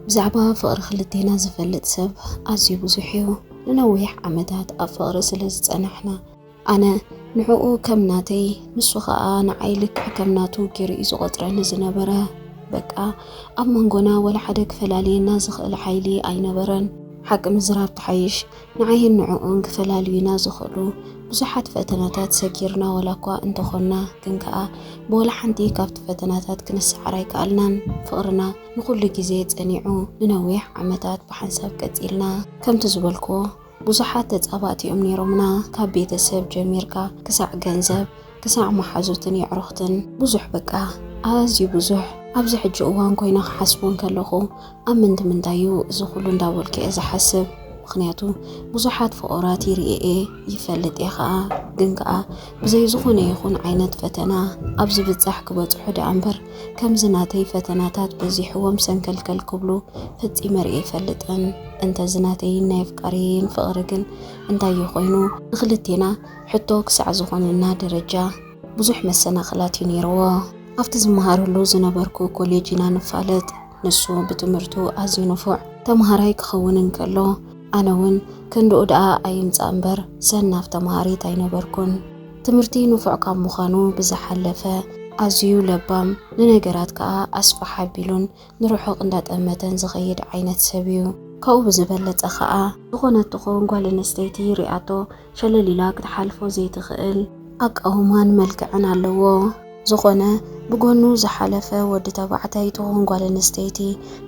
ብዛዕባ ፍቕሪ ክልቴና ዝፈልጥ ሰብ ኣዝዩ ብዙሕ እዩ። ንነዊሕ ዓመታት ኣብ ፍቕሪ ስለ ዝጸናሕና ኣነ ንዕኡ ከም ናተይ ንሱ ኸኣ ንዓይ ልክዕ ከም ናቱ ገይሩ እዩ ዝቖጽረኒ ዝነበረ። በቃ ኣብ መንጎና ወላ ሓደ ክፈላልየና ዝኽእል ሓይሊ ኣይነበረን። ሓቂ ምዝራብ ትሓይሽ ንዓይን ንዕኡን ክፈላልዩና ዝኽእሉ ብዙሓት ፈተናታት ሰጊርና ዋላኳ እንተኾንና ግን ከኣ ብወላ ሓንቲ ካብቲ ፈተናታት ክንሰዓር ኣይከኣልናን። ፍቕርና ንኹሉ ግዜ ጸኒዑ ንነዊሕ ዓመታት ብሓንሳብ ቀጺልና። ከምቲ ዝበልክዎ ብዙሓት ተጻባእቲ'ዮም ኔሮምና ካብ ቤተሰብ ጀሚርካ ክሳዕ ገንዘብ፣ ክሳዕ መሓዙትን የዕሩኽትን ብዙሕ በቃ ኣዝዩ ብዙሕ ኣብዚ ሕጂ እዋን ኮይነ ክሓስቦ እንከለኹ ኣብ ምንቲ ምንታይ እዩ እዚ ኩሉ እንዳበልኩ እየ ዝሓስብ ምክንያቱ ብዙሓት ፍቑራት ይርኢ እየ ይፈልጥ እየ ከኣ ግን ከኣ ብዘይ ዝኾነ ይኹን ዓይነት ፈተና ኣብ ዝብጻሕ ክበጽሑ ደኣ እምበር ከምዚ ናተይ ፈተናታት በዚሕዎም ሰንከልከል ክብሉ ፈጺመ ርእየ ኣይፈልጥን እንተዚ ናተይን ናይ ኣፍቃሪየይን ፍቕሪ ግን እንታይ እዩ ኮይኑ ንክልቴና ሕቶ ክሳዕ ዝኾነና ደረጃ ብዙሕ መሰናኽላት እዩ ነይርዎ። ኣብቲ ዝመሃረሉ ዝነበርኩ ኮሌጅ ኢና ንፋለጥ። ንሱ ብትምህርቱ ኣዝዩ ንፉዕ ተምሃራይ ክኸውን እንከሎ፣ ኣነ እውን ክንድኡ ደኣ ኣይምጻእ እምበር ሰናፍ ተምሃሪት ኣይነበርኩን። ትምህርቲ ንፉዕ ካብ ምዃኑ ብዝሓለፈ ኣዝዩ ለባም፣ ንነገራት ከኣ ኣስፍሕ ኣቢሉን ንርሑቕ እንዳጠመተን ዝኸይድ ዓይነት ሰብ እዩ። ካብኡ ብዝበለጸ ከኣ ዝኾነት ትኹን ጓል ኣንስተይቲ ሪኣቶ ሸለል ኢላ ክትሓልፎ ዘይትኽእል ኣቃውማን መልክዕን ኣለዎ። ዝኾነ ብጎኑ ዝሓለፈ ወዲ ተባዕታይ ትኹን ጓል ኣንስተይቲ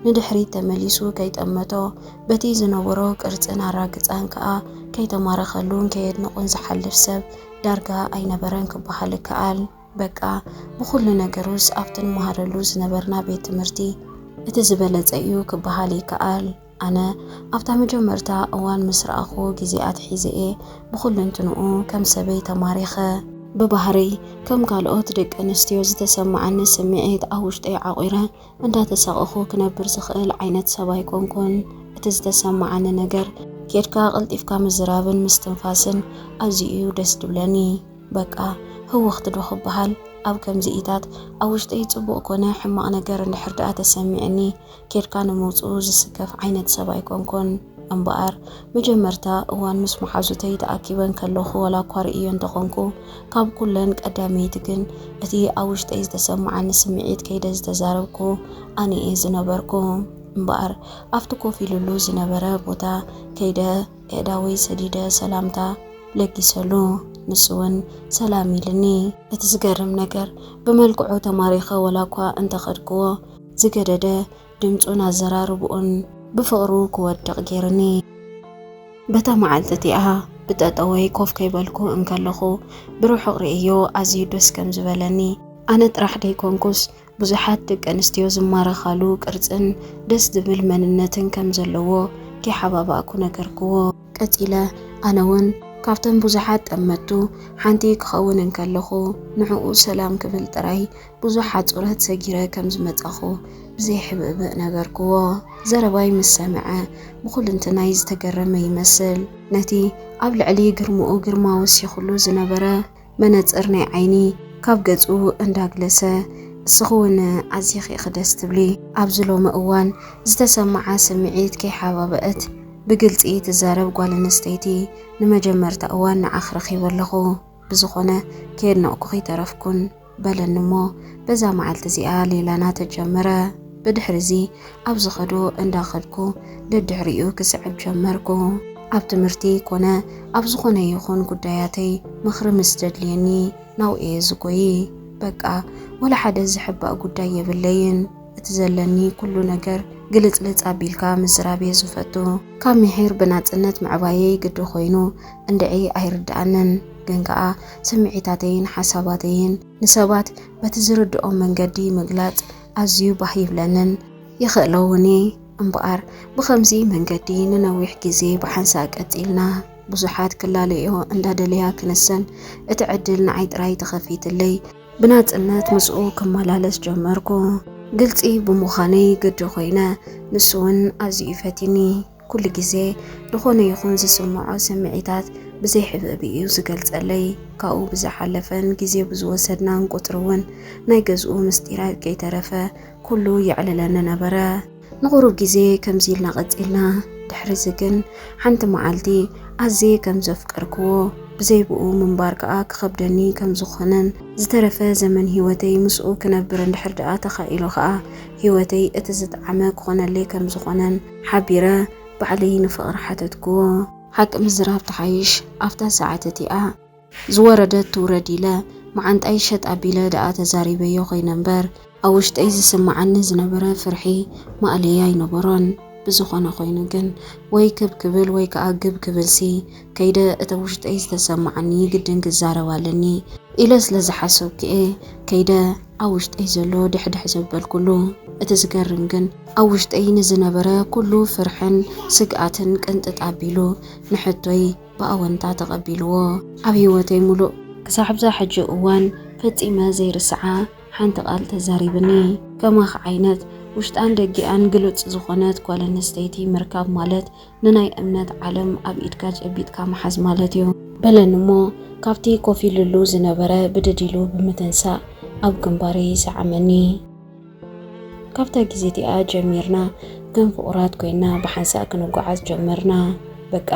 ንድሕሪት ተመሊሱ ከይጠመቶ፣ በቲ ዝነበሮ ቅርጽን ኣራግጻን ከኣ ከይተማረኸሉን ከየድነቑን ዝሓልፍ ሰብ ዳርጋ ኣይነበረን ክበሃል ይከኣል። በቃ ብኹሉ ነገሩስ ኣብቲ ንመሃረሉ ዝነበርና ቤት ትምህርቲ እቲ ዝበለጸ'ዩ ክበሃል ይከኣል። ኣነ ኣብታ መጀመርታ እዋን ምስ ረኣኹ ግዜ ኣትሒዘ'የ ብኹሉንትንኡ ከም ሰበይ ተማሪኸ። ብባህርይ ከም ካልኦት ደቂ ኣንስትዮ ዝተሰመዓኒ ስምዒት ኣብ ውሽጠይ ዓቚረ እንዳተሳቐኹ ክነብር ዝኽእል ዓይነት ሰብ ኣይኮንኩን። እቲ ዝተሰመዓኒ ነገር ኬድካ ቀልጢፍካ ምዝራብን ምስትንፋስን ኣዝዩ'ዩ ደስ ድብለኒ። በቃ ህውኽት ዶ ክበሃል ኣብ ከምዚኢታት ኣብ ውሽጠይ ጽቡቕ ኮነ ሕማቕ ነገር እንድሕር ደኣ ተሰሚዑኒ ኬድካ ንምውጽኡ ዝስከፍ ዓይነት ሰብ ኣይኮንኩን። እምበኣር፣ መጀመርታ እዋን ምስ መሓዙተይ ተኣኪበን ከለኹ ዋላኳ ርእየዮ እንተ ኾንኩ፣ ካብ ኩለን ቀዳመይቲ ግን እቲ ኣብ ውሽጠይ ዝተሰመዓኒ ስምዒት ከይደ ዝተዛረብኩ ኣነ'የ ዝነበርኩ። እምበኣር፣ ኣብቲ ኮፍ ኢሉሉ ዝነበረ ቦታ ከይደ ኣእዳወይ ሰዲደ ሰላምታ ለጊሰሉ። ንሱ'ውን ሰላም ኢሉኒ። እቲ ዝገርም ነገር፣ ብመልክዑ ተማሪኸ ዋላኳ እንተ ኸድኩዎ፣ ዝገደደ ድምጹን ኣዘራርብኡን ብፍቕሩ ክወድቕ ጌሩኒ። በታ መዓልቲ እቲኣ ብጠጠወይ ኮፍ ከይበልኩ እንከለኹ ብርሑቕ ርእየዮ ኣዝዩ ደስ ከም ዝበለኒ፣ ኣነ ጥራሕ ደይኮንኩስ ብዙሓት ደቂ ኣንስትዮ ዝማረኻሉ ቅርጽን ደስ ዝብል መንነትን ከም ዘለዎ ከይሓባባእኩ ነገርክዎ። ቀጺለ ኣነ ውን ካብተን ብዙሓት ጠመቱ ሓንቲ ክኸውን እንከለኹ ንዕኡ ሰላም ክብል ጥራይ ብዙሕ ኣጹርህት ሰጊረ ከም ዝመጻኹ ብዘይሕብእብእ ነገርኩዎ። ዘረባይ ምስ ሰምዐ ብኹልንትናይ ዝተገረመ ይመስል። ነቲ ኣብ ልዕሊ ግርምኡ ግርማ ወሲኹሉ ዝነበረ መነጽር ናይ ዓይኒ ካብ ገጹ እንዳግለሰ፣ እስኺውን ኣዚኺ ኢኺ ደስ ትብሊ። ኣብዚ ሎሚ እዋን ዝተሰመዓ ስምዒት ከይሓባበእት ብግልጺ ትዛረብ ጓል ኣንስተይቲ ንመጀመርታ እዋን ንዓኺ ረኺበ ኣለኹ። ብዝኾነ ከየድነቕኩኺ ኣይተረፍኩን። በለኒ እሞ በዛ መዓልቲ እዚኣ ሌላና ተጀመረ። ብድሕሪዚ ኣብ ዝኸዶ እንዳኸድኩ ደድሕሪኡ ክስዕብ ጀመርኩ። ኣብ ትምህርቲ ኮነ ኣብ ዝኾነ ይኹን ጉዳያተይ ምኽሪ ምስ ዘድልየኒ ናብኡ እየ ዝጎይ። በቃ ወላ ሓደ ዝሕባእ ጉዳይ የብለይን። እቲ ዘለኒ ኩሉ ነገር ግልጽልጽ ኣቢልካ ምዝራብ እየ ዝፈቱ። ካብ ምሒር ብናጽነት ምዕባየይ ግዲ ኮይኑ እንድዒ ኣይርድኣንን። ግን ከኣ ስምዒታተይን ሓሳባተይን ንሰባት በቲ ዝርድኦም መንገዲ ምግላጽ ኣዝዩ ባህ ይብለንን ይኽእሎ'ውን እየ። እምበኣር ብኸምዚ መንገዲ ንነዊሕ ግዜ ብሓንሳእ ቀጺልና፣ ብዙሓት ክላለይኦ እንዳደለያ ክንሰን እቲ ዕድል ንዓይ ጥራይ ተኸፊትለይ፣ ብናጽነት ምስኡ ክመላለስ ጀመርኩ፣ ግልጺ ብምዃነይ ግዲ ኮይነ፣ ንሱ'ውን ኣዝዩ እዩ ፈትዩኒ። ኩሉ ግዜ ዝኾነ ይኹን ዝስምዖ ስምዒታት ብዘይ ሕብእብ እዩ ዝገልጸለይ። ካብኡ ብዝሓለፈን ግዜ ብዝወሰድናን ቁጽሪ እውን ናይ ገዝኡ ምስጢራት ከይተረፈ ኩሉ የዕልለኒ ነበረ። ንቑሩብ ግዜ ከምዚ ኢልና ቀጺልና። ድሕሪዚ ግን ሓንቲ መዓልቲ ኣዝየ ከም ዘፍቀርክዎ፣ ብዘይ ብኡ ምንባር ከኣ ክኸብደኒ ከም ዝኾነን፣ ዝተረፈ ዘመን ህይወተይ ምስኡ ክነብር እንድሕር ደኣ ተኻኢሉ ከኣ ህይወተይ እቲ ዝጠዓመ ክኾነለይ ከም ዝኾነን፣ ሓቢረ ባዕለይ ንፍቕሪ ሓተትክዎ። ሓቂ ምዝራብ ትሓይሽ ኣብታ ሰዓት እቲኣ። ዝወረደት ትውረድ ኢለ መዓንጣይ ሸጥ ኣቢለ ደኣ ተዛሪበዮ ኮይነ እምበር ኣብ ውሽጠይ ዝስመዓኒ ዝነበረ ፍርሒ ማእለያ ኣይነበሮን። ብዝኾነ ኮይኑ ግን ወይ ክብ ክብል ወይ ከኣ ግብ ክብልሲ ከይደ እተ ውሽጠይ ዝተሰማዓኒ ግድን ክዛረብ ኣለኒ ኢለ ስለ ዝሓሰብኩ'የ ከይደ ኣብ ውሽጠይ ዘሎ ድሕድሕ ዘበልኩሉ። እቲ ዝገርም ግን ኣብ ውሽጠይ ንዝነበረ ኩሉ ፍርሕን ስግኣትን ቅንጥጥ ኣቢሉ ንሕቶይ ብኣወንታ ተቐቢልዎ። ኣብ ህይወተይ ሙሉእ። ክሳዕ'ብዛ ሕጂ እዋን ፈጺመ ዘይርስዓ ሓንቲ ቃል ተዛሪብኒ። ከማኺ ዓይነት ውሽጣን ደጊኣን ግሉጽ ዝኾነት ጓል ኣንስተይቲ ምርካብ ማለት ንናይ እምነት ዓለም ኣብ ኢድካ ጨቢጥካ ምሓዝ ማለት እዩ። በለኒ እሞ ካብቲ ኮፍ ኢሉሉ ዝነበረ ብድድ ኢሉ ብምትንሳእ ኣብ ግንባረይ ሰዓመኒ። ካብታ ግዜ እቲኣ ጀሚርና ከም ፍቑራት ኮይንና ብሓንሳእ ክንጓዓዝ ጀመርና። በቃ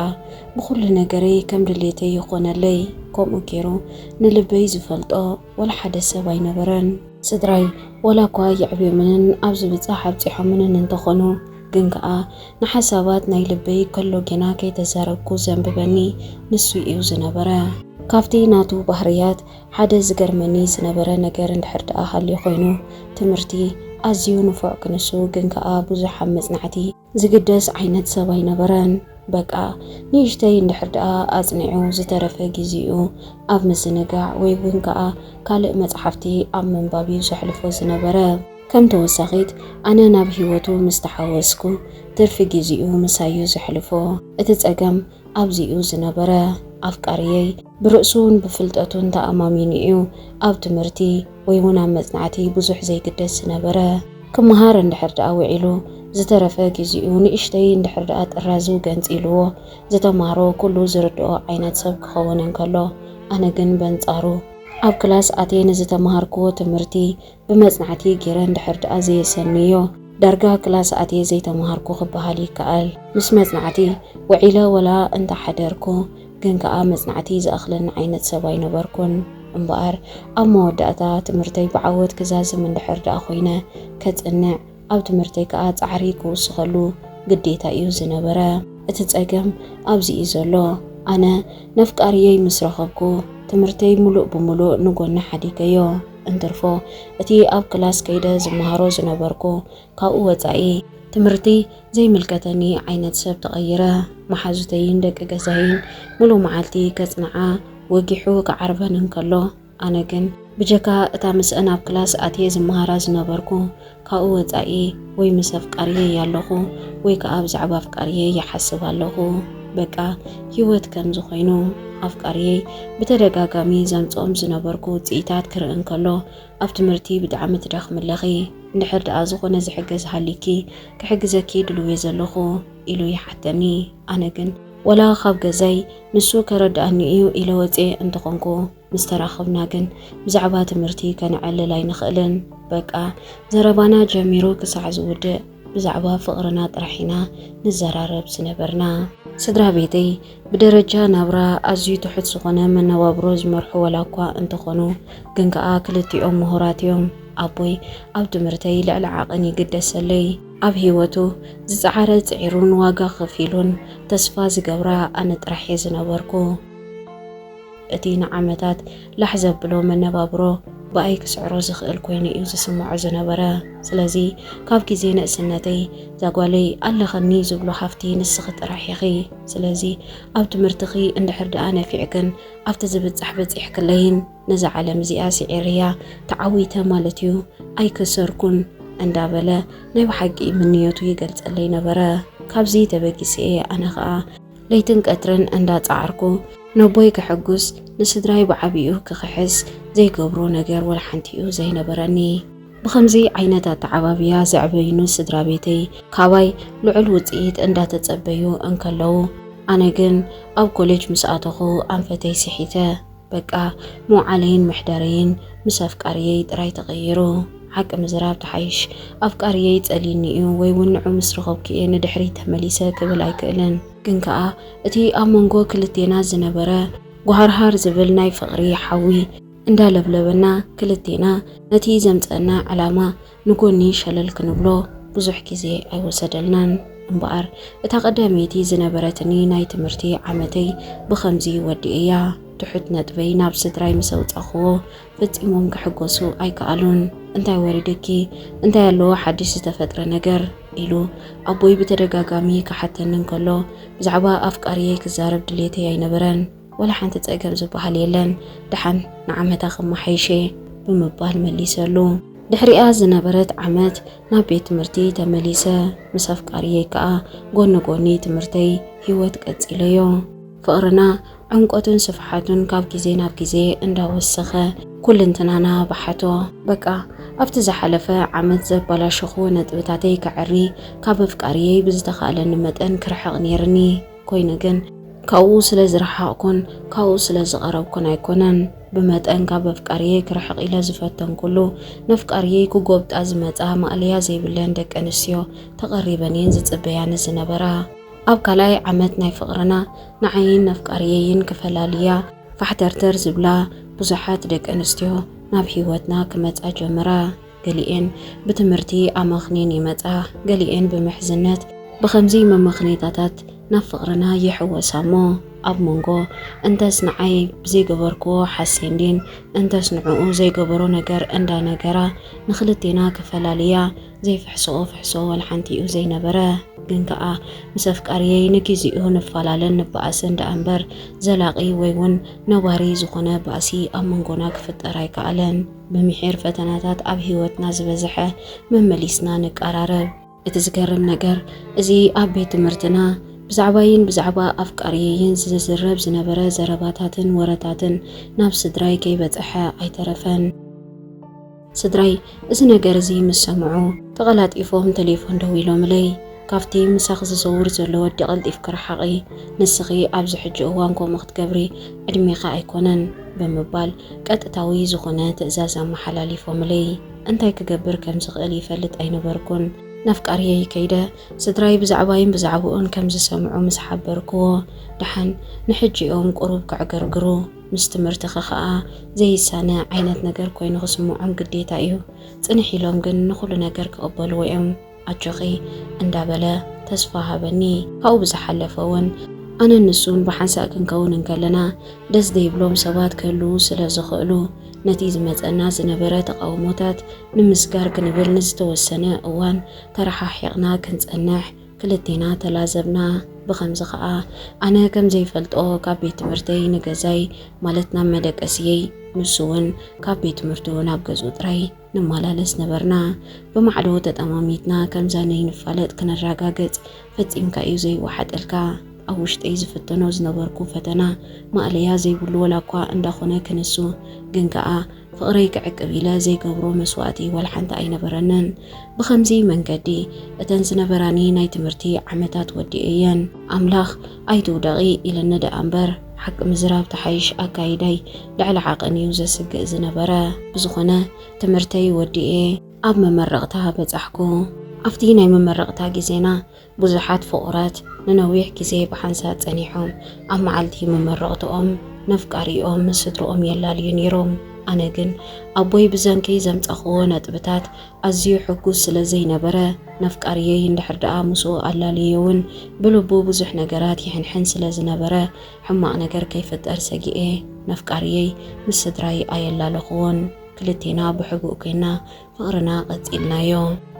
ብኹሉ ነገረይ ከም ድሌተይ ይኾነለይ። ከምኡ ገይሩ ንልበይ ዝፈልጦ፣ ወላ ሓደ ሰብ ኣይነበረን። ስድራይ ወላ እኳ የዕብዮምንን ኣብ ዝብጻሕ ኣብጺሖምንን እንተኾኑ፣ ግን ከኣ ንሓሳባት ናይ ልበይ ከሎ ጌና ከይተዛረብኩ ዘንብበኒ ንሱ ኢዩ ዝነበረ። ካብቲ ናቱ ባህርያት ሓደ ዝገርመኒ ዝነበረ ነገር እንድሕር ደኣ ሃልዩ ኮይኑ፣ ትምህርቲ ኣዝዩ ንፉዕ ክንሱ ግን ከኣ ብዙሕ ኣብ መጽናዕቲ፣ ዝግደስ ዓይነት ሰብ ኣይነበረን። በቃ ንእሽተይ እንድሕር ደኣ ኣጽኒዑ ዝተረፈ ግዜኡ ኣብ ምዝንጋዕ ወይ ውን ከኣ ካልእ መጽሓፍቲ ኣብ ምንባብ'ዩ ዘሕልፎ ዝነበረ። ከም ተወሳኺት ኣነ ናብ ህይወቱ ምስ ተሓወስኩ ትርፊ ግዜኡ ምሳይ'ዩ ዘሕልፎ። እቲ ጸገም ኣብዚ'ዩ ዝነበረ። ኣፍቃሪየይ ብርእሱን ብፍልጠቱን ተኣማሚኑ'ዩ ኣብ ትምህርቲ፣ ወይ እውን ኣብ መጽናዕቲ ብዙሕ ዘይግደስ ዝነበረ፣ ክመሃር እንድሕር ደኣ ውዒሉ፣ ዝተረፈ ግዜኡ ንእሽተይ እንድሕር ደኣ ጥራዙ ገንጺሉዎ ዝተማህሮ ኩሉ ዝርድኦ ዓይነት ሰብ ክኸውን እንከሎ፣ ኣነ ግን በንጻሩ፣ ኣብ ክላስ ኣትየ ንዝተመሃርኩዎ ትምህርቲ ብመጽናዕቲ ገይረ እንድሕር ደኣ ዘየሰንዮ፣ ዳርጋ ክላስ ኣትየ ዘይተመሃርኩ ክበሃል ይከኣል። ምስ መጽናዕቲ ውዒለ ወላ እንተ ሓደርኩ፣ ግን ከኣ መጽናዕቲ ዝኣኽለኒ ዓይነት ሰብ ኣይነበርኩን። እምበኣር ኣብ መወዳእታ ትምህርተይ ብዓወት ክዛዝም እንድሕር ደኣ ኮይነ፣ ከጽንዕ፣ ኣብ ትምህርተይ ከኣ ጻዕሪ ክውስኸሉ ግዴታ እዩ ዝነበረ። እቲ ጸገም ኣብዚ እዩ ዘሎ፣ ኣነ ነፍቃሪየይ ምስ ረኸብኩ፣ ትምህርተይ ምሉእ ብምሉእ ንጎኒ ሓዲገዮ። እንትርፎ እቲ ኣብ ክላስ ከይደ ዝመሃሮ ዝነበርኩ ካብኡ ወጻኢ ትምህርቲ ዘይምልከተኒ ዓይነት ሰብ ተቐይረ። መሓዙተይን ደቂ ገዛይን ምሉእ መዓልቲ ከጽንዓ ወጊሑ ክዓርበን እንከሎ፣ ኣነ ግን ብጀካ እታ ምስአን ኣብ ክላስ ኣትየ ዝመሃራ ዝነበርኩ፣ ካብኡ ወጻኢ ወይ ምስ ኣፍቃሪየይ ኣለኹ ወይ ከኣ ብዛዕባ ኣፍቃሪየይ ይሓስብ ኣለኹ። በቃ ህይወት ከምዚ ኮይኑ። ኣፍቃሪየይ ብተደጋጋሚ ዘምጽኦም ዝነበርኩ ውጽኢታት ክርኢ እንከሎ፣ ኣብ ትምህርቲ ብጣዕሚ ትደኽሚ ኣለኺ እንድሕር ደኣ ዝኾነ ዝሕገዝ ሃሊኪ ክሕግዘኪ ድልውየ ዘለኹ ኢሉ ይሓተኒ ኣነ ግን ወላ ካብ ገዛይ ንሱ ከረድኣኒ እዩ ኢለ ወፅየ እንተኾንኩ ምስ ተራኸብና ግን ብዛዕባ ትምህርቲ ከነዕልል ኣይንኽእልን በቃ ዘረባና ጀሚሩ ክሳዕ ዝውድእ ብዛዕባ ፍቕርና ጥራሕ ኢና ንዘራረብ ዝነበርና። ስድራ ቤተይ ብደረጃ ናብራ ኣዝዩ ትሑት ዝኾነ መነባብሮ ዝመርሑ ዋላኳ እንተኾኑ ግን ከኣ ክልቲኦም ምሁራት እዮም። ኣቦይ ኣብ ትምህርተይ ልዕሊ ዓቕን ይግደሰለይ። ኣብ ህይወቱ ዝጸዓረ ጽዒሩን ዋጋ ከፊሉን ተስፋ ዝገብራ ኣነ ጥራሕ እየ ዝነበርኩ። እቲ ንዓመታት ላሕ ዘብሎ መነባብሮ ብኣይ ክስዕሮ ዝኽእል ኮይኑ እዩ ዝስምዖ ዝነበረ። ስለዚ ካብ ግዜ ንእስነተይ እዛ ጓለይ ኣለኸኒ ዝብሎ ሃፍቲ ንስኺ ጥራሕ ኢኺ። ስለዚ ኣብ ትምህርትኺ እንድሕር ደኣ ነፊዕክን ኣብቲ ዝብጻሕ በጺሕክለይን ነዛ ዓለም እዚኣ ስዒረያ ተዓዊተ ማለት እዩ ኣይከሰርኩን እንዳበለ ናይ ብሓቂ ምንዮቱ ይገልጸለይ ነበረ። ካብዚ ተበጊሰ እየ ኣነ ከኣ ለይትን ቀትርን እንዳጻዓርኩ ነቦይ ከሐጉስ ንስድራይ ብዓቢኡ ክኽሕስ ዘይገብሮ ነገር ወላሓንቲ'ዩ ዘይነበረኒ። ብኸምዚ ዓይነት ኣተዓባብያ ዘዕበዩኒ ስድራቤተይ ካባይ ልዑል ውጽኢት እንዳተጸበዩ እንከለዉ ኣነ ግን ኣብ ኮሌጅ ምስ ኣተኹ ኣንፈተይ ስሒተ። በቃ መውዓለይን መሕደረይን ምስ ኣፍቃርየይ ጥራይ ተቐይሩ። ሓቂ ምዝራብ ትሓይሽ። ኣፍቃርየይ ይጸልዩኒ እዩ ወይ እውን ንዑ ምስ ረኸብኩ እየ ንድሕሪት ተመሊሰ ክብል ኣይክእልን። ግን ከኣ እቲ ኣብ መንጎ ክልቴና ዝነበረ ጓሃርሃር ዝብል ናይ ፍቕሪ ሓዊ እንዳለብለበና ክልቴና ነቲ ዘምጸእና ዕላማ ንጎኒ ሸለል ክንብሎ ብዙሕ ግዜ ኣይወሰደልናን። እምበኣር እታ ቀዳመይቲ ዝነበረትኒ ናይ ትምህርቲ ዓመተይ ብኸምዚ ወዲኤያ። ትሑት ነጥበይ ናብ ስድራይ ምስ ኣውጻኹዎ ፈጺሞም ክሕጎሱ ኣይከኣሉን። እንታይ ወሪድኪ? እንታይ ኣለዎ ሓድሽ ዝተፈጥረ ነገር? ኢሉ ኣቦይ ብተደጋጋሚ ክሓተኒ እንከሎ ብዛዕባ ኣፍቃሪየይ ክዛረብ ድሌተይ ኣይነበረን። ወላ ሓንቲ ጸገም ዝበሃል የለን፣ ደሓን ንዓመታ ከመሓይሽ'የ ብምባል መሊሰሉ። ድሕሪኣ ዝነበረት ዓመት ናብ ቤት ትምህርቲ ተመሊሰ፣ ምስ ኣፍቃሪየይ ከኣ ጎኒ ጎኒ ትምህርተይ ህይወት ቀጺለዮ። ፍቕርና ዕምቆቱን ስፍሓቱን ካብ ግዜ ናብ ግዜ እንዳወሰኸ ኩልንትናና በሓቶ። በቃ ኣብቲ ዝሓለፈ ዓመት ዘበላሸኹዎ ነጥብታተይ ከዐሪ፣ ካብ ኣፍቃሪየይ ብዝተኻእለኒ መጠን ክርሕቕ ኔርኒ። ኮይኑ ግን ካብኡ ስለ ዝረሓቕኩን ካብኡ ስለ ዝቐረብኩን ኣይኮነን። ብመጠን ካብ ኣፍቃርየይ ክርሕቕ ኢለ ዝፈተንኩሉ፣ ነፍቃርየይ ክጎብጣ ዝመጻ ማእለያ ዘይብለን ደቀንስትዮ ተቐሪበን እየን ዝጽበያኒ ዝነበራ። ኣብ ካልኣይ ዓመት ናይ ፍቕርና፣ ንዓይን ነፍቃርየይን ክፈላልያ ፋሕተርተር ዝብላ ብዙሓት ደቀንስትዮ ናብ ህይወትና ክመጻ ጀመራ። ገሊኤን ብትምህርቲ ኣመኽኒን ይመጻ፣ ገሊኤን ብምሕዝነት። ብኸምዚ መመኽነይታታት ናብ ፍቕርና ይሕወሳ እሞ፣ ኣብ መንጎ እንተስ ንዓይ ብዘይገበርክዎ ሓሴንዲን እንተስ ንዕኡ ዘይገበሮ ነገር እንዳ ነገራ ንኽልቴና ክፈላልያ ዘይፍሕስኦ ፍሕሶ ወልሓንቲ'ዩ ዘይነበረ። ግን ከኣ ምስ ኣፍቃርየይ ንጊዚኡ ንፋላለን ንበኣስን ደኣ እምበር፣ ዘላቒ ወይ'ውን ነባሪ ዝኾነ ባእሲ ኣብ መንጎና ክፍጠር ኣይከኣለን። ምምሒር ፈተናታት ኣብ ህይወትና ዝበዝሐ መመሊስና ንቀራረብ። እቲ ዝገርም ነገር እዚ ኣብ ቤት ትምህርትና ብዛዕባይን ብዛዕባ ኣፍቃሪየይን ዝዝረብ ዝነበረ ዘረባታትን ወረታትን ናብ ስድራይ ከይበጸሐ ኣይተረፈን። ስድራይ እዚ ነገር እዚ ምስ ሰምዑ ተቐላጢፎም ተሌፎን ደዊሎምለይ። ካብቲ ምሳኺ ዝዘውር ዘሎ ወዲ ቀልጢፍኪ ርሓቒ፣ ንስኺ ኣብዚ ሕጂ እዋን ከምኡ ክትገብሪ ዕድሜኺ ኣይኮነን ብምባል ቀጥታዊ ዝኾነ ትእዛዝ ኣመሓላሊፎምለይ። እንታይ ክገብር ከም ዝኽእል ይፈልጥ ኣይነበርኩን። ነፍቃርየይ ከይደ ስድራይ ብዛዕባይን ብዛዕብኡን ከም ዝሰምዑ ምስ ሓበርክዎ፣ ደሓን ንሕጂ'ዮም ቁሩብ ከዕገርግሩ፣ ምስ ትምህርትኺ ከኣ ዘይሳነ ዓይነት ነገር ኮይኑ ክስምዖም ግዴታ'ዩ፣ ጽንሕ ኢሎም ግን ንኹሉ ነገር ክቕበልዎ'ዮም። ኣጆኺ እንዳበለ ተስፋ ሃበኒ። ካብኡ ብዝሓለፈ እውን ኣነን ንሱን ብሓንሳእ ክንከውን እንከለና ደስ ዘይብሎም ሰባት ክህልዉ ስለ ዝኽእሉ ነቲ ዝመጸና ዝነበረ ተቓውሞታት ንምስጋር ክንብል ንዝተወሰነ እዋን ተረሓሒቕና ክንጸንሕ ክልቴና ተላዘብና። ብኸምዚ ከኣ ኣነ ከም ዘይፈልጦ ካብ ቤት ትምህርተይ ንገዛይ ማለት ናብ መደቀስየይ ንሱ እውን ካብ ቤት ትምህርቱ ናብ ገዝኡ ጥራይ ንማላለስ ነበርና ብማዕዶ ተጠማሚትና ከምዛ ነይንፋለጥ ክነራጋገጽ ፈጺምካ እዩ ዘይዋሓጠልካ ኣብ ውሽጠይ ዝፍተኖ ዝነበርኩ ፈተና ማእለያ ዘይብሉ ወላኳ እንዳኾነ ክንሱ ግን ከኣ ፍቕረይ ክዕቅብ ኢለ ዘይገብሮ መስዋእቲ ወልሓንቲ ኣይነበረንን ብኸምዚ መንገዲ እተን ዝነበራኒ ናይ ትምህርቲ ዓመታት ወዲኤየን ኣምላኽ ኣይትውደቒ ኢለኒ ደኣ እምበር ሓቂ ምዝራብ ትሓይሽ ኣካይዳይ ልዕሊ ዓቐን እዩ ዘስግእ ዝነበረ። ብዝኾነ ትምህርተይ ወዲኤ ኣብ መመረቕታ በጻሕኩ። ኣብቲ ናይ መመረቕታ ግዜና ብዙሓት ፍቑራት ንነዊሕ ግዜ ብሓንሳእ ጸኒሖም ኣብ መዓልቲ መመረቕትኦም ነፍቃሪኦም ምስ ስድርኦም የላልዩ ነይሮም። ኣነ ግን ኣቦይ ብዘንኪ ዘምጻኹዎ ነጥብታት ኣዝዩ ሕጉስ ስለ ዘይነበረ፣ ነፍቃርየይ እንድሕር ደኣ ምስኡ ኣላልየዮ'ውን ብልቡ ብዙሕ ነገራት ይሕንሕን ስለ ዝነበረ፣ ሕማቕ ነገር ከይፍጠር ሰጊኤ ነፍቃርየይ ምስ ስድራይ ኣየላለኹዎን። ክልቴና ብሕቡእ ኴንና ፍቕርና ቀጺልናዮ።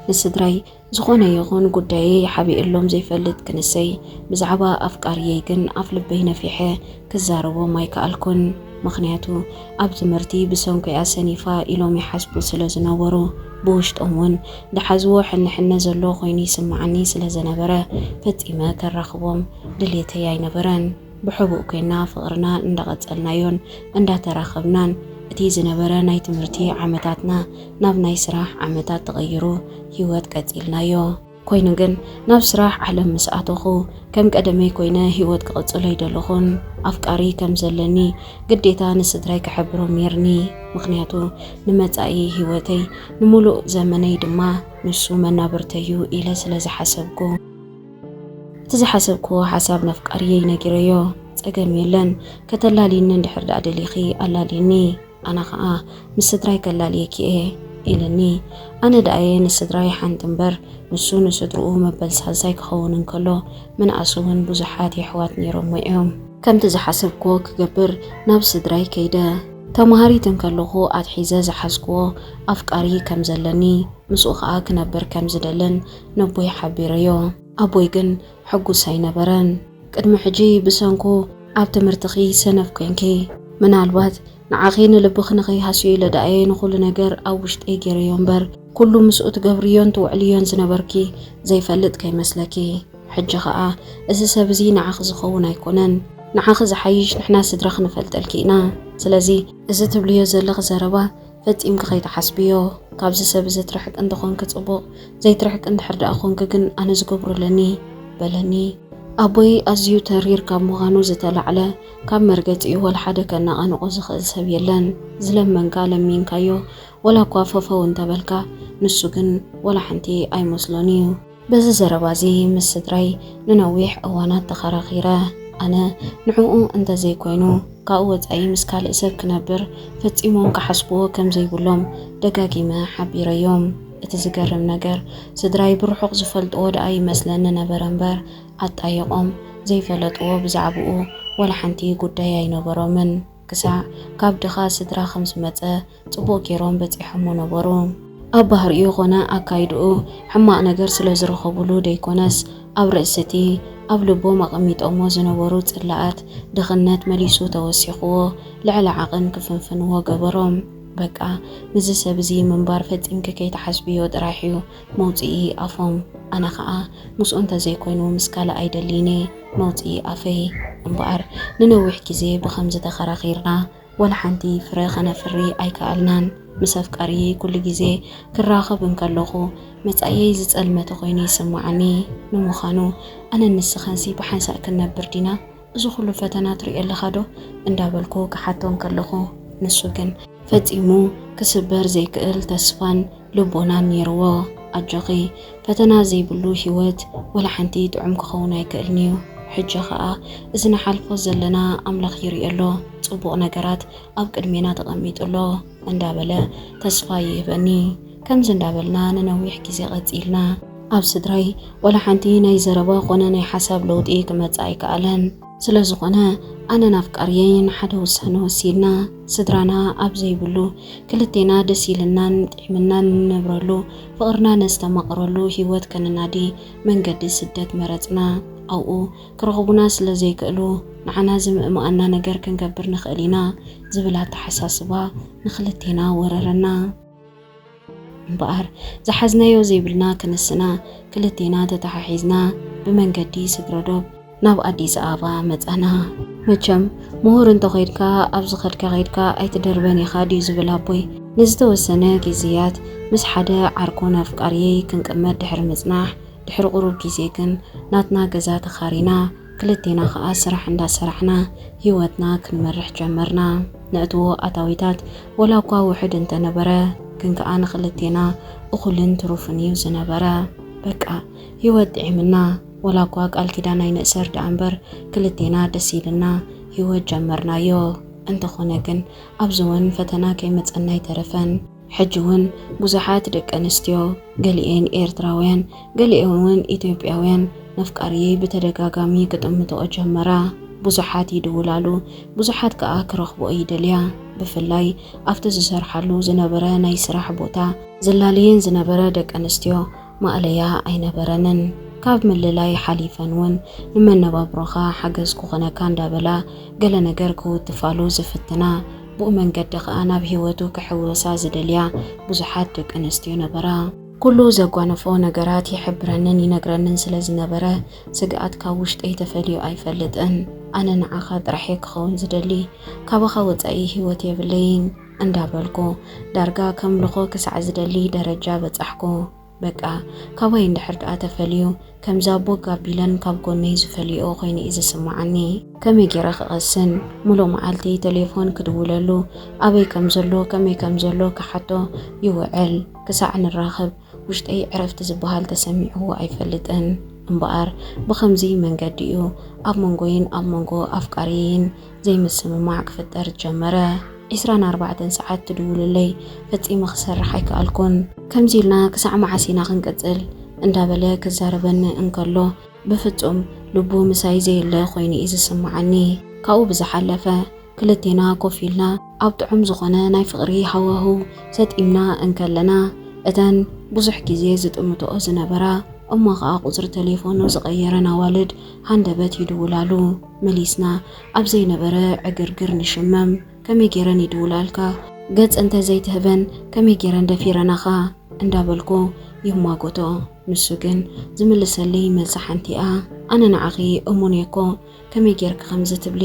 ንስድራይ ዝኾነ ይኹን ጉዳየይ ሓቢኤሎም ዘይፈልጥ ክንሰይ፣ ብዛዕባ ኣፍቃርየይ ግን ኣፍልበይ ነፊሐ ክዛረቦም ኣይከኣልኩን ምኽንያቱ ኣብ ትምህርቲ ብሰንኩ'ያ ሰኒፋ ኢሎም ይሓስቡ ስለ ዝነበሩ ብውሽጦም ውን ዝሓዝዎ ሕነ ሕነ ዘሎ ኮይኑ ይስመዓኒ ስለ ዘነበረ ፈጺመ ከራኽቦም ድልየተይ ኣይነበረን ብሕቡእ ኮይና ፍቕርና እንዳቐጸልናዮን እንዳተራኸብናን እቲ ዝነበረ ናይ ትምህርቲ ዓመታትና ናብ ናይ ስራሕ ዓመታት ተቐይሩ ሂወት ቀጺልናዮ። ኮይኑ ግን ናብ ስራሕ ዓለም ምስ ኣተኹ ከም ቀደመይ ኮይነ ህይወት ክቕጽሎ ኣይደለኹን። ኣፍቃሪ ከም ዘለኒ ግዴታ ንስድራይ ክሕብሮም ኔርኒ፣ ምኽንያቱ ንመጻኢ ህይወተይ ንምሉእ ዘመነይ ድማ ንሱ መናብርተይ'ዩ ኢለ ስለ ዝሓሰብኩ። እቲ ዝሓሰብክዎ ሓሳብ ነፍቃሪየይ ነጊረዮ፣ ጸገም የለን ከተላልይኒ እንድሕር ደኣ ደሊኺ ኣላልይኒ፣ ኣነ ኸኣ ምስ ስድራይ ከላልየኪ እየ ኢልኒ። ኣነ ደኣየ ንስድራይ ሓንቲ እምበር፣ ንሱ ንስድርኡ መበል ሳልሳይ ክኸውን እንከሎ፣ ምንኣስ'ውን ብዙሓት የሕዋት ነይሮሞ እዮም። ከምቲ ዝሓሰብክዎ ክገብር ናብ ስድራይ ከይደ። ተማሃሪት እንከለኹ ኣትሒዘ ዝሓዝክዎ ኣፍቃሪ ከም ዘለኒ፣ ምስኡ ኸኣ ክነብር ከም ዝደልን ነቦይ ሓቢረዮ። ኣቦይ ግን ሕጉስ ኣይነበረን። ቅድሚ ሕጂ ብሰንኩ ኣብ ትምህርትኺ ሰነፍ ኴንኪ። ምናልባት ንዓኺ ንልብኺ ንኸይሃስዮ ኢለ ደኣ'የ ንኹሉ ነገር ኣብ ውሽጠይ ገይረዮ እምበር፣ ኩሉ ምስኡ ትገብርዮን ትውዕልዮን ዝነበርኪ ዘይፈልጥ ከይመስለኪ። ሕጂ ኸኣ እዚ ሰብ እዚ ንዓኺ ዝኸውን ኣይኮነን። ንዓኺ ዝሓይሽ ንሕና ስድራኺ ንፈልጠልኪ ኢና። ስለዚ እዚ ትብልዮ ዘለኺ ዘረባ ፈጺምኪ ከይትሓስብዮ ካብዚ ሰብ እዚ ትርሕቂ እንተኾንኪ ጽቡቕ ዘይትርሕቂ እንድሕር ደኣ ኮንኪ ግን ኣነ ዝገብሮ ኣለኒ በለኒ። ኣቦይ ኣዝዩ ተሪር ካብ ምዃኑ ዝተላዕለ ካብ መርገጺኡ ወላ ሓደ ከነቓንቖ ዝኽእል ሰብ የለን። ዝለመንካ ለሚንካዮ ወላ እኳ ፈፈው እንተበልካ ንሱ ግን ወላ ሓንቲ ኣይመስሎን እዩ። በዚ ዘረባ እዚ ምስ ስድራይ ንነዊሕ እዋናት ተኸራኺረ። ኣነ ንዕኡ እንተዘይኮይኑ ካብኡ ወጻኢ ምስ ካልእ ሰብ ክነብር ፈጺሞም ክሓስብዎ ከም ዘይብሎም ደጋጊመ ሓቢረዮም። እቲ ዝገርም ነገር ስድራይ ብርሑቕ ዝፈልጥዎ ደኣ ይመስለኒ ነበረ እምበር ኣጣይቖም ዘይፈለጥዎ ብዛዕብኡ ዋላ ሓንቲ ጉዳይ ኣይነበሮምን። ክሳዕ ካብ ድኻ ስድራ ከም ዝመጸ ጽቡቕ ገይሮም በጺሖሞ ነበሩ። ኣብ ባህሪኡ ዀነ ኣካይዳኡ ሕማቕ ነገር ስለ ዝረኸቡሉ ደይኰነስ፣ ኣብ ርእሲ እቲ ኣብ ልቦም ኣቐሚጦሞ ዝነበሩ ጽላኣት ድኽነት መሊሱ ተወሲኽዎ ልዕሊ ዓቕን ክፍንፍንዎ ገበሮም። በቃ ምስዚ ሰብ እዚ ምንባር ፈጺምኪ ከይትሓስብዮ ጥራሕ'ዩ፣ መውጽኢ ኣፎም ኣነ ከኣ ምስኡ እንተዘይኮይኑ ምስ ካልእ ኣይደልይን'የ መውጽኢ ኣፈይ እምበኣር ንነዊሕ ግዜ ብኸምዚ ተኸራኺርና ወላ ሓንቲ ፍረ ከነፍሪ ኣይከኣልናን ምስ ኣፍቃሪየይ ኩሉ ግዜ ክራኸብ እንከለኹ መጻኢየይ ዝጸልመተ ኮይኑ ይስመዓኒ ንምዃኑ ኣነን ንስኻንሲ ብሓንሳእ ክንነብር ዲና እዚ ኩሉ ፈተና ትሪኦ ኣለኻ ዶ እንዳበልኩ ክሓቶ እንከለኹ ንሱ ግን። ፈጺሙ ክስበር ዘይክእል ተስፋን ልቦናን ኔርዎ። ኣጆኺ ፈተና ዘይብሉ ሂወት ወላ ሓንቲ ጥዑም ክኸውን ኣይክእልን'ዩ። ሕጂ ኸኣ እዚ ንሓልፎ ዘለና ኣምላኽ ይሪኦ ኣሎ ጽቡቕ ነገራት ኣብ ቅድሜና ተቐሚጡ ኣሎ እንዳበለ ተስፋ ይህበኒ። ከምዚ እንዳበልና ንነዊሕ ግዜ ቀጺልና። ኣብ ስድራይ ዋላ ሓንቲ ናይ ዘረባ ኮነ ናይ ሓሳብ ለውጢ ክመጽእ ኣይከኣለን። ስለ ዝኾነ ኣነን ኣፍቃርየይን ሓደ ውሳነ ወሲድና። ስድራና ኣብ ዘይብሉ ክልቴና ደስ ኢልናን ጢዕምናን ንነብረሉ፣ ፍቕርና ነስተማቕረሉ ህይወት ከነናዲ መንገዲ ስደት መረጽና። ኣብኡ ክረኽቡና ስለ ዘይክእሉ ንዓና ዝምእምኣና ነገር ክንገብር ንኽእል ኢና ዝብል ኣተሓሳስባ ንኽልቴና ወረረና። እምበኣር ዝሓዝናዮ ዘይብልና ክንስና ክልቴና ተተሓሒዝና ብመንገዲ ስግረዶብ ናብ ኣዲስ ኣበባ መጻና። መቸም ምሁር እንተኾይድካ ኣብ ዝኸድካ ከይድካ ኣይትደርበን ኢኻ ድዩ ዝብል ኣቦይ ንዝተወሰነ ግዜያት ምስ ሓደ ዓርኩን ኣፍቃርየይ ክንቅመጥ ድሕሪ ምጽናሕ ድሕሪ ቁሩብ ግዜ ግን ናትና ገዛ ተኻሪና ክልቴና ከኣ ስራሕ እንዳሰራሕና ህይወትና ክንመርሕ ጀመርና። ነእትዎ ኣታዊታት ወላኳ ውሑድ እንተነበረ ግን ከኣ ንክልቴና እኹልን ትሩፍን እዩ ዝነበረ። በቃ ህይወት ጥዒምና ወላኳ ቃል ኪዳን ኣይንእሰር ደኣ እምበር ክልቴና ደስ ኢልና ህይወት ጀመርናዮ። እንተኾነ ግን ኣብዚ እውን ፈተና ከይመጸና ኣይተረፈን። ሕጂ ውን ብዙሓት ደቂ ኣንስትዮ፣ ገሊኤን ኤርትራውያን ገሊኤን ውን ኢትዮጵያውያን፣ ነፍቃሪየይ ብተደጋጋሚ ክጥምትኦ ጀመራ። ብዙሓት ይድውላሉ፣ ብዙሓት ከኣ ክረኽብኦ ይደልያ። ብፍላይ ኣብቲ ዝሰርሓሉ ዝነበረ ናይ ስራሕ ቦታ፣ ዘላልየን ዝነበረ ደቂ ኣንስትዮ፣ ማእለያ ኣይነበረንን። ካብ ምልላይ ሓሊፈን እውን ንመነባብሮኻ ሓገዝ ክኾነካ እንዳበላ ገለ ነገር ክውትፋሉ ዝፍትና፣ ብኡ መንገዲ ከኣ ናብ ህይወቱ ክሕወሳ ዝደልያ ብዙሓት ደቂ ኣንስትዮ ነበራ። ኩሉ ዘጓንፎ ነገራት ይሕብረንን ይነግረንን ስለ ዝነበረ ስግኣት ካብ ውሽጠይ ተፈልዩ ኣይፈልጥን። ኣነ ንዓኻ ጥራሕ'የ ክኸውን ዝደሊ። ካባኻ ወጻኢ ህይወት የብለይን። እንዳበልኩ ዳርጋ ከምልኾ ክሳዕ ዝደሊ ደረጃ በጻሕኩ። በቃ ካባይ እንድሕር ደኣ ተፈልዩ ከምዛ ቦግ ኣቢለን ካብ ጎነይ ዝፈልይኦ ኮይኑ'ዩ ዝስመዓኒ። ከመይ ጌረ ክቐስን? ምሉእ መዓልቲ ተሌፎን ክድውለሉ፣ ኣበይ ከም ዘሎ ከመይ ከም ዘሎ ክሓቶ ይውዕል። ክሳዕ ንራኸብ ውሽጠይ ዕረፍቲ ዝበሃል ተሰሚዕዎ ኣይፈልጥን። እምበኣር ብኸምዚ መንገዲ'ዩ ኣብ መንጎይን ኣብ መንጎ ኣፍቃሪየይን ዘይምስምማዕ ክፍጠር ጀመረ። ዕስራን ኣርባዕተን ሰዓት ትድውልለይ፣ ፈጺመ ክሰርሕ ኣይከኣልኩን። ከምዚ ኢልና ክሳዕ መዓስ ኢና ክንቅጽል? እንዳበለ ክዛረበኒ እንከሎ፣ ብፍጹም ልቡ ምሳይ ዘየለ ኮይኑ እዩ ዝስምዓኒ። ካብኡ ብዝሓለፈ፣ ክልቴና ኮፍ ኢልና ኣብ ጥዑም ዝኾነ ናይ ፍቕሪ ሃዋህው ሰጢምና እንከለና፣ እተን ብዙሕ ግዜ ዝጥምትኦ ዝነበራ እሞ ከኣ ቁጽሪ ተሌፎኑ ዝቐየረን ኣዋልድ ሃንደበት ይድውላሉ። መሊስና ኣብ ዘይነበረ ዕግርግር ንሽመም ከመይ ጌረን ይድውላልካ ገጽ እንተ ዘይትህበን ከመይ ጌረን ደፊረናኻ እንዳበልኩ ይማጎቶ ንሱ ግን ዝምልሰልይ መልሲ ሓንቲ'ያ ኣነ ንዓኺ እሙን እየ'ኮ ከመይ ጌርኪ ከምዚ ትብሊ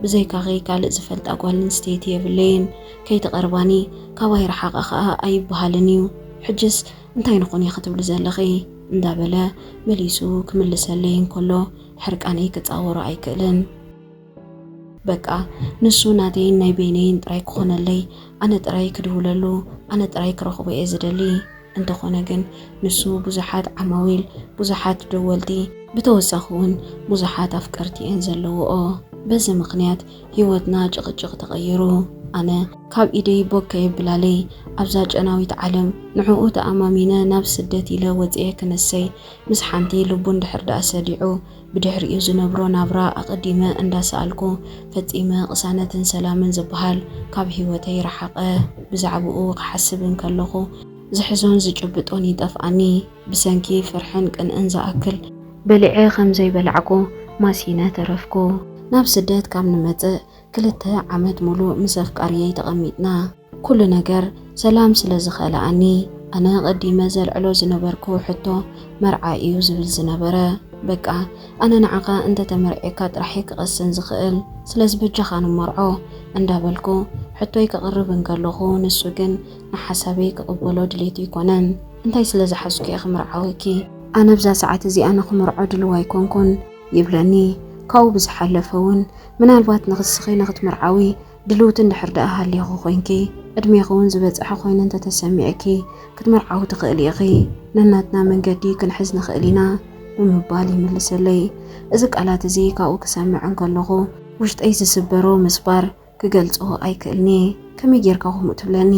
ብዘይካኺ ካልእ ዝፈልጣ ጓል ኣንስተይቲ የብለይን ከይትቐርባኒ ካባይ ርሓቓ ከኣ ኣይብሃልን እዩ ሕጅስ እንታይ ንኹን እየ ክትብሊ ዘለኺ እንዳበለ መሊሱ ክምልሰልይ እንከሎ ሕርቃነይ ክጻወሮ ኣይክእልን። በቃ ንሱ ናተይን ናይ በይነይን ጥራይ ክኾነለይ፣ ኣነ ጥራይ ክድውለሉ፣ ኣነ ጥራይ ክረኽቦ እየ ዝደሊ። እንተኾነ ግን ንሱ ብዙሓት ዓማዊል፣ ብዙሓት ደወልቲ፣ ብተወሳኺ እውን ብዙሓት ኣፍቀርቲ እየን ዘለውኦ። በዚ ምኽንያት ህይወትና ጭቕጭቕ ተቐይሩ። ኣነ ካብ ኢደይ ቦግ ከየብላለይ ኣብዛ ጨናዊት ዓለም ንዕኡ ተኣማሚነ ናብ ስደት ኢለ ወጺኤ ክነሰይ ምስ ሓንቲ ልቡ እንድሕር ድኣ ሰዲዑ ብድሕሪኡ ዝነብሮ ናብራ ኣቐዲመ እንዳሰኣልኩ ፈጺመ ቅሳነትን ሰላምን ዝብሃል ካብ ሂወተይ ረሓቐ። ብዛዕብኡ ክሓስብ እንከለኹ ዝሕዞን ዝጭብጦን ይጠፍኣኒ። ብሰንኪ ፍርሕን ቅንእን ዝኣክል። በሊዐ ከም ዘይበላዕኩ ማሲነ ተረፍኩ። ናብ ስደት ካብ ንመጽእ ክልተ ዓመት ሙሉእ ምስ ኣፍቃርየይ ተቐሚጥና። ኩሉ ነገር ሰላም ስለ ዝኸልኣኒ ኣነ ቀዲመ ዘልዕሎ ዝነበርኩ ሕቶ መርዓ እዩ ዝብል ዝነበረ በቃ ኣነ ንዓኻ እንተ ተመርዒካ ጥራሕየ ክቐስን ዝኽእል ስለዚ በጃኻ ንመርዖ እንዳበልኩ ሕቶይ ከቕርብ እንከለኹ ንሱ ግን ንሓሳበይ ክቕበሎ ድሌቱ ኣይኮነን እንታይ ስለ ዝሓዝኩ እየ ክምርዓወኪ ኣነ ኣብዛ ሰዓት እዚኣ ንኽምርዖ ድልው ኣይኮንኩን ይብለኒ ካብኡ ብዝሓለፈ እውን ምናልባት ንኽስኺ ንኽትምርዓዊ ድልውቲ እንድሕር ደኣ ሃሊኺ ኮይንኪ፣ ዕድሜኺ ውን ዝበጸሐ ኮይኑ እንተ ተሰሚዕኪ፣ ክትምርዓዊ ትኽእሊ ኢኺ። ነናትና መንገዲ ክንሕዝ ንኽእል ኢና። ብምባል ይምልሰለይ። እዚ ቃላት እዚ ካብኡ ክሰምዕ እንከለኹ፣ ውሽጠይ ዝስበሮ ምስባር ክገልጾ ኣይክእልን'የ። ከመይ ጌርካ ከምኡ ትብለኒ?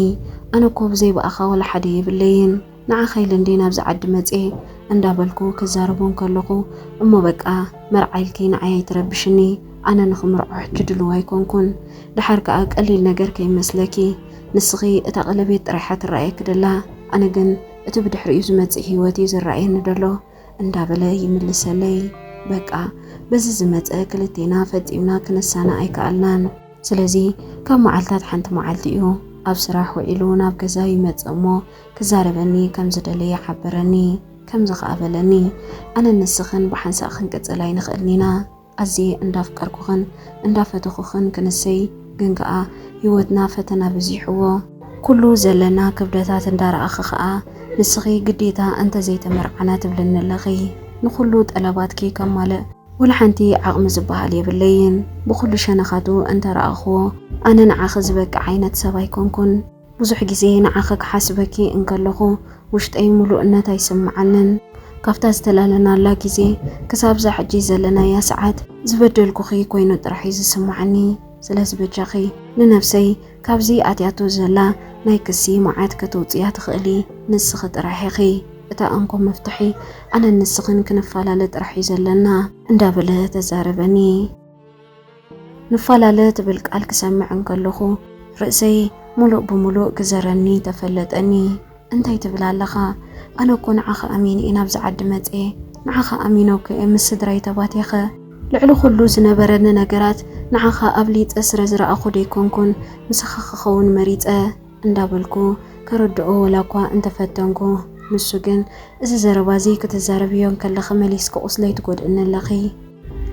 ኣነ እኮ ብዘይ ብኣኻ ወላ ሓደ የብለይን። ንዓኻ ኢለ እንድየ ናብዚ ዓዲ መፅየ እንዳበልኩ ክዛረቦ እንከለኹ እሞ በቃ መርዓ ኢልኪ ንዓይ ኣይትረብሽኒ ኣነ ንኽምርዖ ሕጂ ድሉው ኣይኮንኩን ድሓር ከኣ ቀሊል ነገር ከይመስለኪ ንስኺ እታ ቀለቤት ጥራይ እያ ትረኣየኪ ደላ ኣነ ግን እቲ ብድሕሪኡ ዝመፅእ ሂወት እዩ ዝረኣየኒ ደሎ እንዳበለ ይምልሰለይ በቃ በዚ ዝመፀ ክልቴና ፈፂምና ክነሳና ኣይከኣልናን ስለዚ ካብ መዓልታት ሓንቲ መዓልቲ እዩ ኣብ ስራሕ ውዒሉ ናብ ገዛ ይመፅእ እሞ ክዛረበኒ ከም ዝደለየ ሓበረኒ። ከምዚ ከኣ በለኒ፣ ኣነን ንስኽን ብሓንሳእ ክንቅጽል ኣይንኽእልን ኢና። ኣዝየ እንዳፍቀርኩኽን እንዳፈተኹኽን ክንሰይ፣ ግን ከኣ ህይወትና ፈተና በዚሕዎ። ኩሉ ዘለና ክብደታት እንዳረኣኺ ከኣ ንስኺ ግዴታ እንተዘይተመርዓና ትብልኒ ኣለኺ። ንኹሉ ጠለባትኪ ከማልእ ወላሓንቲ ዓቕሚ ዝበሃል የብለይን። ብኹሉ ሸነኻቱ እንተረኣኽዎ ኣነ ንዓኺ ዝበቅዕ ዓይነት ሰብ ኣይኮንኩን። ብዙሕ ግዜ ንዓኺ ክሓስበኪ እንከለኹ ውሽጠይ ምሉእነት ኣይስምዓንን። ካብታ ዝተላለናላ ግዜ ክሳብ እዛ ሕጂ ዘለናያ ሰዓት ዝበደልኩኺ ኮይኑ ጥራሕ እዩ ዝስምዓኒ። ስለዚ በጃኺ ንነብሰይ ካብዚ ኣትያቶ ዘላ ናይ ክሲ መዓት ከተውጽያ ትኽእሊ ንስኺ ጥራሕ ኢኺ። እታ እንኮ መፍትሒ ኣነን ንስኽን ክንፈላለ ጥራሕ እዩ ዘለና። እንዳበለ ተዛረበኒ። ንፋላለ ትብል ቃል ክሰምዕ እንከለኹ ርእሰይ ሙሉእ ብሙሉእ ክዘረኒ ተፈለጠኒ። እንታይ ትብል ኣለኻ? ኣነ እኮ ንዓኻ ኣሚነ'የ ናብዚ ዓዲ መጼ፣ ንዓኻ ኣሚነኩ'የ ምስ ስድራይ ተባቲኸ፣ ልዕሊ ኩሉ ዝነበረኒ ነገራት ንዓኻ ኣብሊጸ ስረ ዝረኣኹ ደይኮንኩን ምሳኻ ክኸውን መሪጸ እንዳበልኩ ከረድኦ ወላኳ እንተፈተንኩ ንሱ ግን እዚ ዘረባ'ዚ ክትዛረብዮ እንከለኺ መሊስኪ ቁስለይ ትጎድእኒ ኣለኺ፣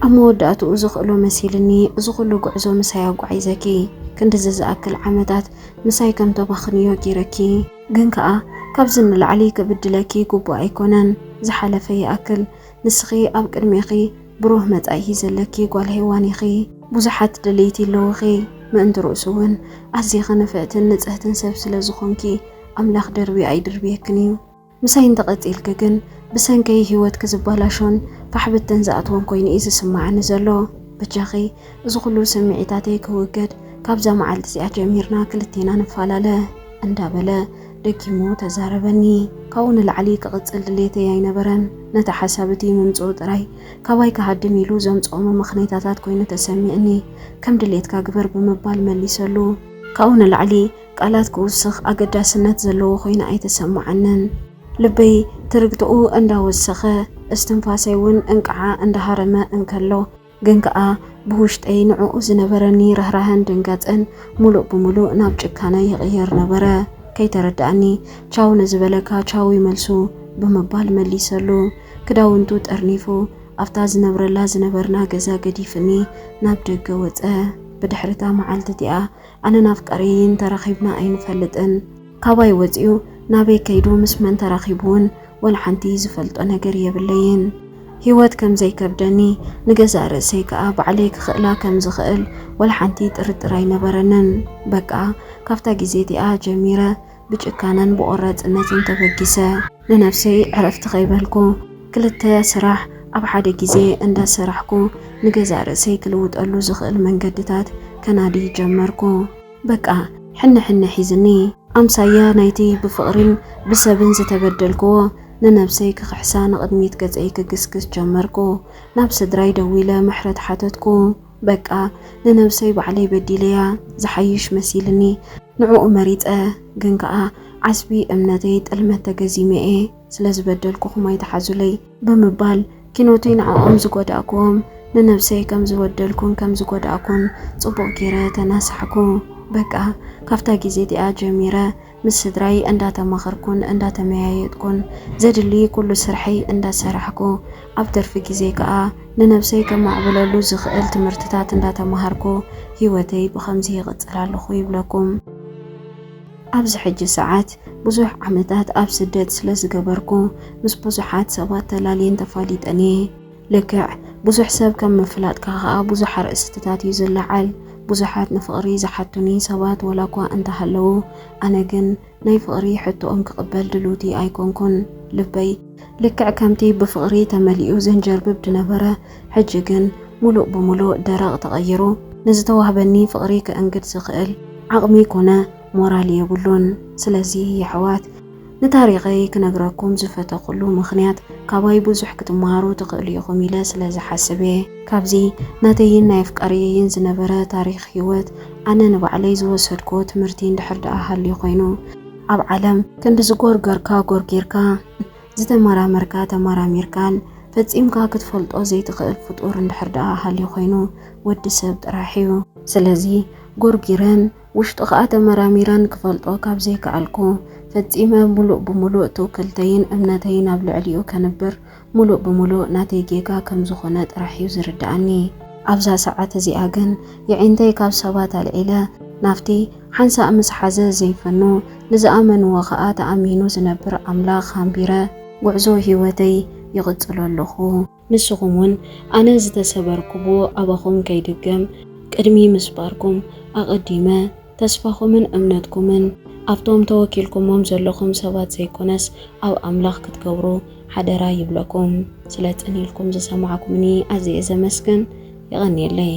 ኣብ መወዳእትኡ ዝኽእሎ መሲልኒ እዚ ኩሉ ጉዕዞ ምሳይ ኣጓዒዘኪ ክንድዚ ዝኣክል ዓመታት ምሳይ ከም ተባኽንዮ ጌረኪ ግን ከኣ ካብዚ ንላዕሊ ክብድለኪ ግቡእ ኣይኮነን ዝሓለፈ ይኣክል ንስኺ ኣብ ቅድሜኺ ብሩህ መጻኢ ዘለኪ ጓል ሄዋን ኢኺ ብዙሓት ደለይቲ ኣለዉኺ ምእንቲ ርእሱ ውን ኣዚኺ ንፍዕትን ንጽህትን ሰብ ስለ ዝኾንኪ ኣምላኽ ደርብዩ ኣይድርብየክን እዩ። ምሳይ እንተቐጺልኪ ግን ብሰንከይ ህይወትኪ ዝበላሾን ፋሕ ብትን ዝኣትዎን ኮይኑ እዩ ዝስማዓኒ ዘሎ። በጃኺ እዚ ኩሉ ስምዒታተይ ክውገድ ካብዛ መዓልቲ እዚኣ ጀሚርና ክልቴና ንፋላለ። እንዳበለ ደጊሙ ተዛረበኒ። ካብኡ ንላዕሊ ክቕጽል ድሌተይ ኣይነበረን። ነቲ ሓሳብ እቲ ምምጽኡ ጥራይ ካባይ ክሃድም ኢሉ ዘምጽኦ መመኽነይታታት ኮይኑ ተሰሚዕኒ። ከም ድሌትካ ግበር ብምባል መሊሰሉ። ካብኡ ንላዕሊ ቃላት ክውስኽ ኣገዳስነት ዘለዎ ኮይኑ ኣይተሰማዓንን። ልበይ ትርግትኡ እንዳወሰኸ፣ እስትንፋሰይ ውን እንቅዓ እንዳሃረመ እንከሎ ግን ከኣ ብውሽጠይ ንዕኡ ዝነበረኒ ርህራሀን ድንጋጸን ምሉእ ብምሉእ ናብ ጭካነ ይቕየር ነበረ። ከይተረደኣኒ ቻው ንዝበለካ ቻው ዩ መልሱ ብምባል መሊሰሉ። ክዳውንቱ ጠርኒፉ ኣብታ ዝነብረላ ዝነበርና ገዛ ገዲፍኒ ናብ ደገ ወጸ። ብድሕሪ'ታ መዓልቲ እቲኣ ኣነ ናፍቀሪ እንተረኺብና ኣይንፈልጥን ካባይ ወጺኡ ናበይ ከይዱ ምስ መን ተራኺቡ ውን ወልሓንቲ ዝፈልጦ ነገር የብለይን ሂወት ከምዘይከብደኒ ንገዛእ ርእሰይ ከኣ ባዕለይ ክኽእላ ከምዝኽእል ወልሓንቲ ጥርጥር ኣይነበረንን በቃ ካብታ ግዜ እቲኣ ጀሚረ ብጭካነን ብቆራጽነትን ተበጊሰ ንነብሰይ ዕረፍቲ ከይበልኩ ክልተ ስራሕ ኣብ ሓደ ግዜ እንዳሰራሕኩ ንገዛእ ርእሰይ ክልውጠሉ ዝኽእል መንገድታት ከናዲ ጀመርኩ። በቃ ሕነ ሕነ ሒዝኒ። ኣምሳያ ናይቲ ብፍቕሪን ብሰብን ዝተበደልክዎ ንነብሰይ ክኽሕሳ ንቕድሚት ገጸይ ክግስግስ ጀመርኩ። ናብ ስድራይ ደዊለ ምሕረት ሓተትኩ። በቃ ንነብሰይ ባዕለይ በዲለያ ዝሓይሽ መሲልኒ ንዕኡ መሪጸ ግን ከኣ ዓስቢ እምነተይ ጥልመት ተገዚመ እየ ስለ ዝበደልኩኹም ኣይትሓዙለይ ብምባል ኪኖተይ ንዕኦም ዝጎዳእኩዎም ንነብሰይ ከም ዝበደልኩን ከም ዝጎዳእኩን ጽቡቕ ጌረ ተናሳሕኩ በቃ ካብታ ጊዜ እቲኣ ጀሚረ ምስ ስድራይ እንዳተማኸርኩን እንዳተመያየጥኩን ዘድሊ ኩሉ ስርሐይ እንዳሰራሕኩ ኣብ ትርፊ ግዜይ ከኣ ንነብሰይ ከማዕብለሉ ዝኽእል ትምህርትታት እንዳተማሃርኩ ሂወተይ ብኸምዚ ይቕጽል ኣለኹ ይብለኩም። ኣብዚ ሕጂ ሰዓት ብዙሕ ዓመታት ኣብ ስደት ስለዝገበርኩ ምስ ብዙሓት ሰባት ተላልየን ተፋሊጠን እየ። ልክዕ ብዙሕ ሰብ ከም ምፍላጥካ ከኣ ብዙሕ ኣርእስትታት እዩ ዝለዓል። ብዙሓት ንፍቕሪ ዝሓቱኒ ሰባት ወላኳ እንተሃለዉ፣ ኣነ ግን ናይ ፍቕሪ ሕቶኦም ክቕበል ድልውቲ ኣይኮንኩን። ልበይ። ልክዕ ከምቲ ብፍቕሪ ተመሊኡ ዘንጀርብብ ድነበረ፣ ሕጂ ግን ምሉእ ብምሉእ ደረቕ ተቐይሩ። ንዝተዋህበኒ ፍቕሪ ከእንግድ ዝኽእል ዓቕሚ ኮነ ሞራል የብሉን። ስለዚ የሕዋት። ንታሪኸይ ክነግረኩም ዝፈተኹሉ ምኽንያት ካባይ ብዙሕ ክትመሃሩ ትኽእሉ ኢኹም ኢለ ስለ ዝሓስብ እየ። ካብዚ ናተይን ናይ ኣፍቃርየይን ዝነበረ ታሪኽ ህይወት ኣነ ንባዕለይ ዝወሰድኩዎ ትምህርቲ እንድሕር ደኣ ሃልዩ ኮይኑ፣ ኣብ ዓለም ክንዲ ዝጎርገርካ ጎርጊርካ፣ ዝተመራመርካ ተመራሚርካን ፈጺምካ ክትፈልጦ ዘይትኽእል ፍጡር እንድሕር ደኣ ሃልዩ ኮይኑ ወዲ ሰብ ጥራሕ እዩ። ስለዚ ጎርጊረን ውሽጡ ከኣ ተመራሚረን ክፈልጦ ካብ ዘይከኣልኩ፣ ፈጺመ ምሉእ ብምሉእ ትውክልተይን እምነተይን ኣብ ልዕሊኡ ከንብር ምሉእ ብምሉእ ናተይ ጌጋ ከም ዝኾነ ጥራሕ'ዩ ዝርድኣኒ። ኣብዛ ሰዓት እዚኣ ግን የዒንተይ ካብ ሰባት ኣልዒለ ናብቲ ሓንሳእ ምስ ሓዘ ዘይፈኑ፣ ንዝኣመንዎ ከኣ ተኣሚኑ ዝነብር ኣምላኽ ኣንቢረ፣ ጉዕዞ ህይወተይ ይቕጽሎ ኣለኹ። ንስኹም ውን ኣነ ዝተሰበርኩዎ ኣባኹም ከይድገም ቅድሚ ምስባርኩም ኣቐዲመ ተስፋኹምን እምነትኩምን ኣብቶም ተወኪልኩሞም ዘለኹም ሰባት ዘይኮነስ ኣብ ኣምላኽ ክትገብሩ ሓደራ ይብለኩም። ስለ ጽን ኢልኩም ዝሰማዕኩምኒ ኣዝየ ዘመስግን። የቐንየለይ።